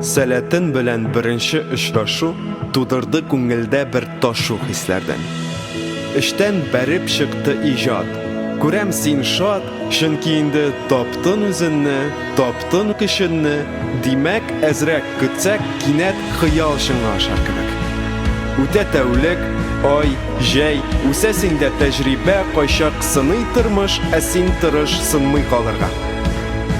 Сәләтен белән беренче очрашу тудырды күңелдә бер ташу хисләрдән. Эштән бәреп чыкты иҗат. Күрәм син шат, Чөнки инде таптын үзенне, таптын көченне, димәк, әзрәк көтсәк, кинәт хыял чынга ашар кебек. Үтә тәүлек, ай, җәй, үсәсең дә тәҗрибә, кайчак сыный тормыш, ә син тырыш сынмый калырга.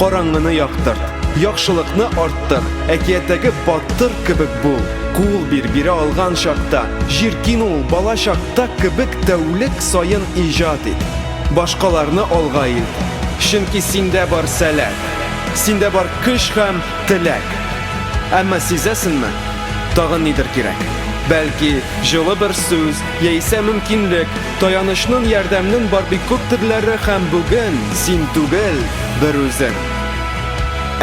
Караңгыны яктырт, яхшылыкны арттыр, әкияттәге батыр кебек бул, кул бир, бирә алган чакта, җир кин ул, балачакта кебек тәүлек саен иҗат ит. Башкаларны алга ил, чөнки синдә бар сәләт, синдә бар көч һәм теләк. Әмма сизәсенме? Тагын нидер кирәк. Бәлки, җылы бер сүз, яисә мөмкинлек, таянычның, ярдәмнең бар бик күп төрләре һәм бүген син түгел, бер үзең.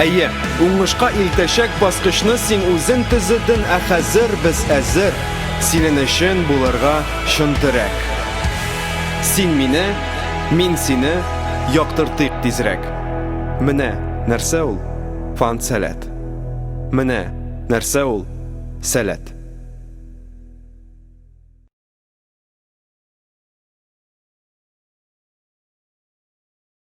Әйе, уңышка илтәчәк баскычны син үзең төзеден, ә хәзер без әзер синен өчен булырга чын терәк. Син мине, мин сине яктыртыйк тизрәк. Менә нәрсә ул? Фан сәләт. Менә нәрсә ул? Сәләт.